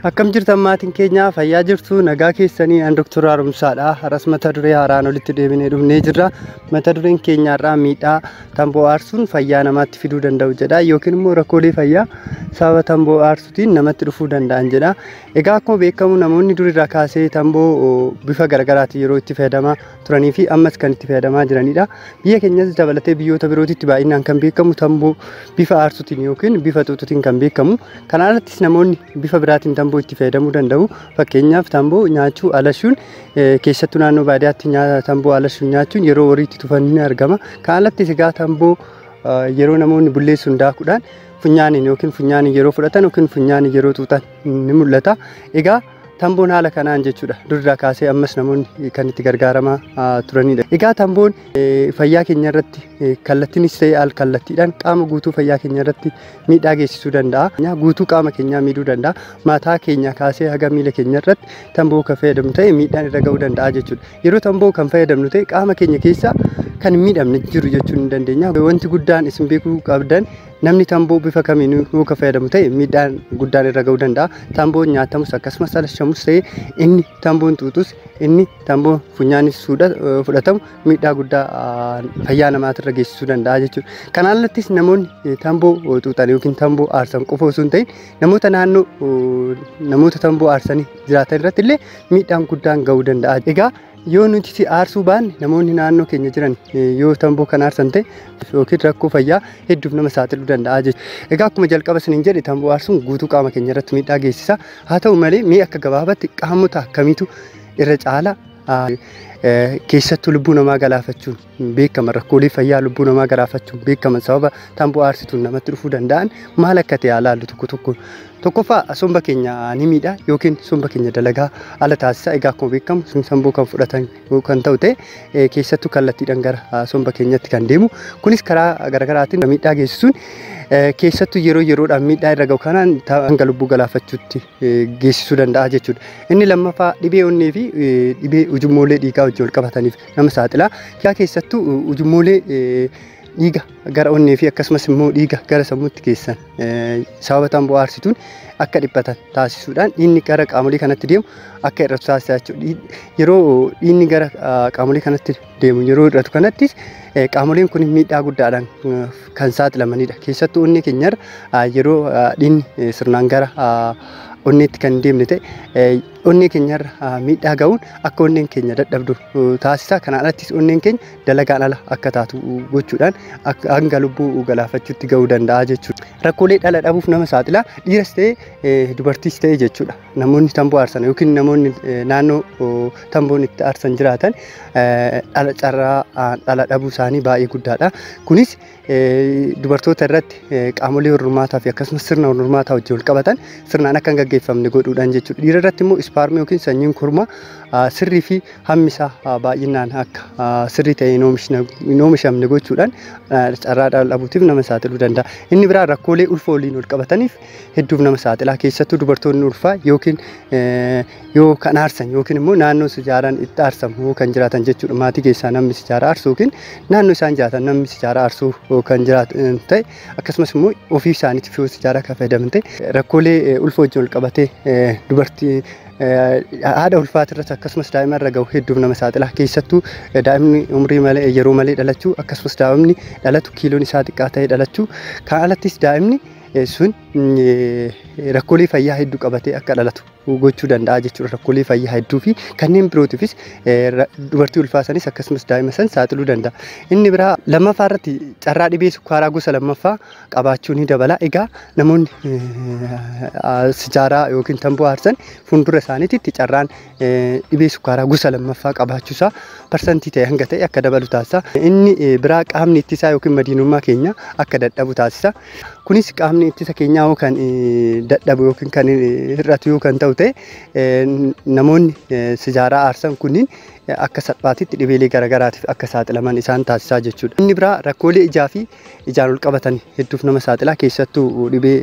Akkam jirtan maatiin keenya fayyaa jirtu nagaa keessanii an Dr. Haaromsaadha. Har'as mata duree haaraan olitti deebinee dhufnee jirra. Mata dureen keenyaarraa miidhaa tamboo aarsuun fayyaa namaatti fiduu danda'u jedha yookiin immoo rakkoolee fayyaa sababa tamboo aarsuutiin namatti dhufuu danda'an jedha. Egaa akkuma beekamu namoonni durirraa kaasee tamboo bifa garaagaraatiin yeroo itti fayyadamaa turanii fi ammas kan itti fayyadamaa jiranidha. Biyya keenyas dabalatee biyyoota birootitti baay'inaan kan beekamu tamboo bifa aarsuutiin yookiin bifa xuuxuutiin kan beekamu. Kana alattis namoonni bifa biraatiin tamboo itti fayyadamuu danda'u. Fakkeenyaaf tamboo nyaachuu alashuun eh, keessattuu naannoo baadiyyaatti nyaa- tamboo alashuun nyaachuun yeroo wariitti tufan ni argama. Kana alattis egaa tamboo eh, yeroo namoonni bulleessuun daakuudhaan funyaaniin yookiin funyaaniin yeroo fudhatan yookiin funyaaniin yeroo xuuxan ni mul'ata. Egaa Tamboon haala kanaan jechuudha durirraa kaasee ammas namoonni kan itti gargaaramaa ah, turanidha. Egaa tamboon eh, fayyaa keenya irratti eh, kallattiinis ta'e al kallattiidhaan qaama guutuu fayyaa keenya irratti miidhaa geessisuu danda'a. Nyaa Guutuu qaama keenyaa miidhuu danda'a. Mataa keenya kaasee haga miila keenya irratti tamboo kan fayyadamnu ta'e miidhaan irra ga'uu danda'a jechuudha. Yeroo tamboo kan fayyadamnu ta'e qaama keenya keessaa kan hin miidhamne jiru jechuun ni dandeenya. Wanti guddaan isin beekuu qabdan Namni tamboo bifa kamiin yoo kan fayyadamu ta'e miidhaan guddaan irra ga'uu danda'a. Tamboon nyaatamus akkasumas alashamus ta'e inni tamboon xuuxus inni tamboon funyaanis fudhatamu miidhaa guddaa fayyaa namaatirra geessisuu danda'a jechuudha. Kanaan alattis namoonni tamboo xuuxan yookiin tamboo aarsan qofa osoo hin ta'in namoota naannoo namoota tamboo aarsanii jiraatan irratti illee miidhaan guddaan ga'uu danda'a. Egaa Yoo nuti si aarsuu baanne namoonni naannoo keenya jiran yoo tamboo kan aarsan ta'e yookiin rakkoo fayyaa hedduuf nama saaxiluu danda'a jechuudha. Egaa akkuma jalqaba isiniin jedhe tamboo aarsuun guutuu qaama keenya irratti miidhaa geessisa. Haa ta'u malee mee akka gabaabatti qaamota akkamiitu irra caala keessattuu lubbuu namaa galaafachuun hin beekaman rakkoolee fayyaa lubbuu namaa garaafachuun beekaman sababa tamboo aarsituun namatti dhufuu danda'an maal akka ta'e haa laallu tokko tokko. Tokkoffaa somba keenya ni miidha yookiin somba keenya dalagaa ala taasisa. Egaa akkuma beekamu sun tamboo kan fudhatan yoo kan ta'u ta'e eh, keessattuu kallattiidhaan gara ah, somba keenyatti kan deemu. Kunis karaa garaagaraatiin miidhaa geessisuun eh, keessattuu yeroo yeroodhaan miidhaa irra ga'u kanaan ta- hanga lubbuu galaafachuutti eh, geessisuu danda'a jechuudha. Inni lammaffaa dhibee onnee fi eh, dhibee ujummoolee dhiigaa wajjin wal qabataniif nama saaxila. Yaa keessattuu ujummoolee dhiiga gara onnee fi akkasumas immoo dhiiga gara sammuutti keessan sababa tamboo aarsituun akka dhiphatan taasisuudhaan dhiinni gara qaamolee kanatti deemu akka hir'atu taasisa jechuudha. Yeroo dhiinni gara qaamolee kanatti deemu yeroo hir'atu kanattis qaamoleen kun miidhaa guddaadhaan kan saaxilamanidha. Keessattuu onnee keenyarra yeroo dhiinni sirnaan gara onneetti kan deemne ta'e onnee keenyarra miidhaa ga'uun akka onneen keenya dadhabdu taasisa. Kanaan alattis onneen keenya dalagaan ala akka taatu gochuudhaan hanga lubbuu galaafachuutti ga'uu danda'a jechuudha. Rakkoolee dhala dhabuuf nama saaxila. Dhiiras ta'ee dubartiis ta'ee jechuudha. Namoonni tamboo aarsan yookiin namoonni naannoo tamboon itti aarsan jiraatan dhala carraa dhala dhabuu isaanii baay'ee guddaadha. Kunis dubartoota irratti qaamolee hormaataa fi akkasumas sirna hormaataa wajjin wal qabatan sirnaan akka hin gaggeeffamne godhuudhaan jechuudha. Dhiira irratti immoo ispaarmii yookiin sanyiin kormaa sirrii fi hammi isaa baay'inaan akka sirrii ta'e hin oomishamne gochuudhaan carraa dhala dhabuutiif nama saaxiluu danda'a. Inni biraa rakkoolee ulfa waliin wal qabataniif hedduuf nama saaxilaa keessattuu dubartoonni ulfaa yookiin yoo kan aarsan yookiin immoo naannoo sijaaraan itti aarsamu kan jiraatan jechuudha. Maatii keessaa namni sijaaraa aarsu yookiin naannoo isaan jiraatan namni sijaaraa aarsu kan jiraatan ta'e akkasumas immoo ofii isaaniitiif yoo sijaaraa kan fayyadaman ta'e rakkoolee ulfa wajjin wal qabatee dubartii haadha ulfaatirratti akkasumas daa'ima irra gahu hedduuf nama saaxila keessattuu daa'imni umrii malee yeroo malee dhalachuu akkasumas daa'imni dhalatu kiiloon isaa xiqqaa ta'ee dhalachuu kan alattis daa'imni sun rakkoolee fayyaa hedduu qabatee akka dhalatu gochuu danda'a jechuudha. Rakkoolee fayyaa hedduu fi kanneen birootiifis dubartii ulfaasanis akkasumas daa'ima san saaxiluu danda'a. Inni biraa lammaffaa irratti carraa dhibee sukkaaraa gosa lammaffaa qabaachuu ni dabala. Egaa namoonni sijaaraa yookiin tamboo aarsan fuuldura isaaniitti carraan dhibee sukkaaraa gosa lammaffaa qabaachuusaa parsantii ta'e hanga ta'e akka dabalu taasisa. Inni biraa qaamni ittisaa yookiin madiinummaa keenya akka dadhabu taasisa. Kunis qaamni ittisa keenyaa yoo kan dadhabu yookiin kan hir'atu yoo kan ta'u ta'e namoonni sijaaraa aarsan kunniin akka salphaatitti dhibeelee garaagaraatiif akka saaxilaman isaan taasisaa jechuudha. Inni biraa rakkoolee ijaa fi ijaan ol qabatan hedduuf nama saaxilaa keessattuu dhibee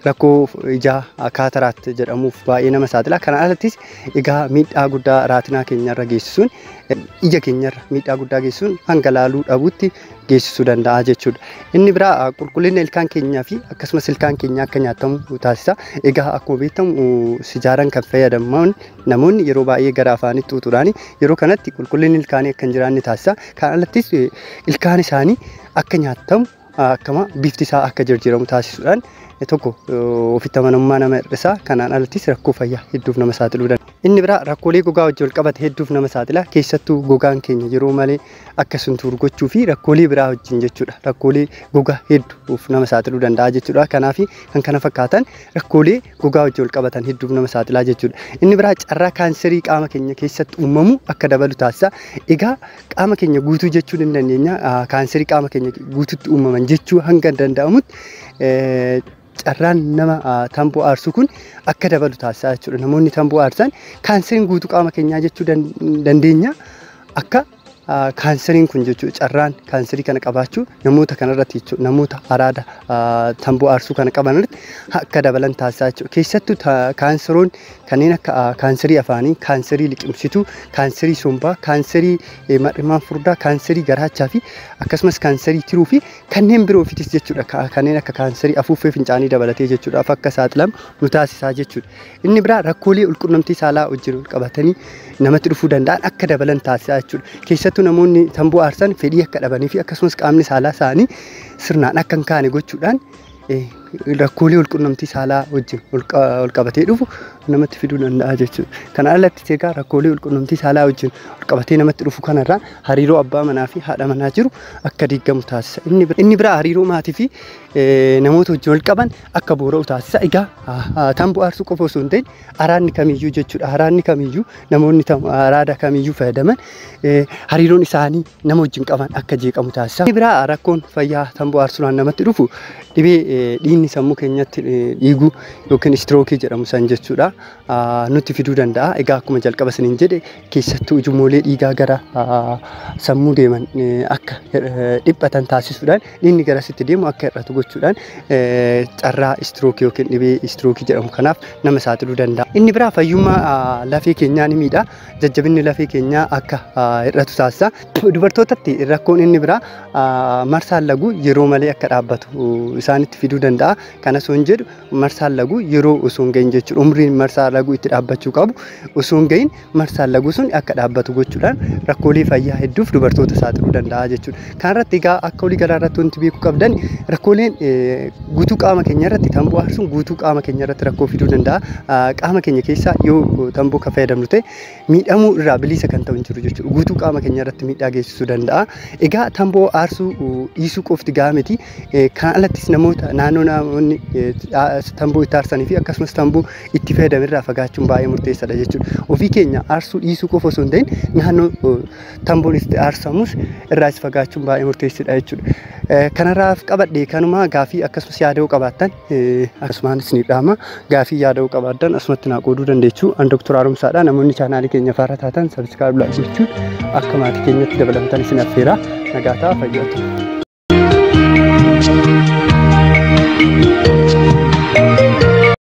rakkoo ijaa kaataraat jedhamuuf baay'ee nama saaxilaa. Kana alattis egaa miidhaa guddaa raatinaa keenyarra geessisuun ija keenyarra miidhaa guddaa geessisuun hanga laaluu dhabuutti geessisuu danda'a jechuudha. Inni biraa qulqullina ilkaan keenyaa fi akkasumas ilkaan keenya akka nyaatamu taasisa. Egaa akkuma beekamu sijaaraan kan fayyadaman namoonni yeroo baay'ee gara afaanitti xuuxuudhaan yeroo kanatti qulqullinni ilkaanii akka hin jiraanne taasisa. Kan alattis ilkaan isaanii akka nyaatamu akkama bifti isaa akka jijjiiramu taasisuudhaan tokko ofitti amanamummaa nama hir'isa. Kanaan alattis rakkoo fayyaa hedduuf nama saaxiluu danda'a. Inni biraa rakkoolee gogaa wajjin wal qabate hedduuf nama saaxila. Keessattuu gogaan keenya yeroo malee akka sun tuuru gochuu fi rakkoolee biraa wajjin jechuudha. Rakkoolee gogaa hedduuf nama saaxiluu danda'a jechuudha. Kanaaf kan kana fakkaatan rakkoolee gogaa wajjin wal qabatan hedduuf nama saaxilaa jechuudha. Inni biraa carraa kaanserii qaama keenya keessatti uumamu akka dabalu taasisa. Egaa qaama keenya guutuu jechuu ni dandeenya. Kaanserii qaama keenya guutuutti uumaman jechuu hanga danda'amutti carraan nama tamboo aarsu kun akka dabalu taasisaa jechuudha. Namoonni tamboo aarsan kaanseriin guutuu qaama keenyaa jechuu dandeenya. Akka kaanseriin kun jechuudha carraan kaanserii kana qabaachuu namoota kanarratti jechuudha namoota araada tamboo aarsuu kana qaban irratti akka dabalan taasisaa jechuudha. Keessattuu kaanseroon kanneen akka kaanserii afaanii, kaanserii liqimsituu, kaanserii sombaa, kaanserii mar'imaan furdaa, kaanserii garaachaa fi akkasumas kaanserii tiruu fi kanneen biroofitis jechuudha ka- kanneen akka kaansarii afuuffee fincaanii dabalatee jechuudhaaf akka saaxilamu nu taasisaa jechuudha. Inni biraa rakkoolee walqunnamtii saalaa wajjin wal qabatanii namatti dhufuu danda'an akka dabalan taasisaa jechuudha. Keessattuu namoonni tamboo aarsan fedhii akka dhabanii fi akkasumas qaamni saalaa isaanii sirnaan akka hin kaane gochuudhaan rakkoolee walqunnamtii saalaa wajjin walqabatee dhufu namatti fiduu danda'a jechuudha. Kana alatti egaa rakkoolee walqunnamtii saalaa wajjin walqabatee namatti dhufu kanarraa hariiroo abbaa manaa fi haadha manaa jiru akka diigamu taasisa. Inni biraa hariiroo maatii fi namoota wajjin walqaban akka boora'u taasisa. Egaa tan bu'aarsuu qofa osoo hin ta'in araadni kamiyyuu jechuudha. Araadni kamiyyuu namoonni araada kamiyyuu fayyadaman hariiroon isaanii nama wajjin qaban akka jeeqamu taasisa. Inni biraa rakkoon fayyaa tamboo aarsuudhaan namatti dhufu dhibee eh, dhiigni sammuu keenyatti eh, dhiigu yookiin istirookii jedhamu san jechuudha ah, nutti fiduu danda'a. Egaa akkuma jalqaba isiniin jedhe keessattuu ujummoolee dhiigaa gara ah, sammuu deeman eh, akka eh, dhiphatan taasisuudhaan dhiigni garasitti deemu akka hir'atu gochuudhaan eh, carraa istirookii yookiin dhibee istirookii jedhamu kanaaf nama saaxiluu danda'a. Inni biraa fayyummaa ah, lafee keenyaa ni miidha. jajjabinni lafee keenyaa akka hir'atu taasisa. Dubartootatti rakkoon inni biraa marsaan laguu yeroo malee akka dhaabbatu isaanitti fiduu danda'a. Kanas hin jedhu marsaan laguu yeroo osoo hin gahin jechuudha. Umriin marsaa laguu itti dhaabbachuu qabu osoo hin gahin marsaan laguu sun akka dhaabbatu gochuudhaan rakkoolee fayyaa hedduuf dubartoota saaxiluu danda'a jechuudha. Kanarratti egaa akka walii galaa irratti wanti beekuu qabdan rakkooleen guutuu qaama keenya irratti tamboo aarsuun guutuu qaama keenya irratti rakkoo fiduu danda'a. Qaama keenya keessaa yoo tamboo kan fayyadamnu ta'e miidhamuu irraa bilisa kan ta'u hin jiru jechuudha. Guutuu qaama keenya irratti miidhaa geessisuu danda'a. Egaa tamboo aarsuu dhiisuu qofti gahaa miti. Kan alattis namoota naannoo namoonni tamboo itti aarsanii fi akkasumas tamboo itti fayyadaman irraa fagaachuun baay'ee murteessaadha jechuudha. Ofii keenya aarsuu dhiisuu qofa osoo hin ta'in naannoo tamboon itti aarsamus irraa is fagaachuun baay'ee murteessidha jechuudha. Eh, Kanarraaf qabadhe kanuma gaafii akkasumas yaada'uu qabaattan eh, akkasumaan isiniif dhaama gaafii yaada'uu qabaattan asumatti naa qooduu dandeechu an doktor haaromsaadha namoonni chaanaalii keenya faarra taatan sabiskiraayib laayik gochuun akka maatii keenyatti dabalamtan isin affeera nagaa ta'a fayyaa ta'aa.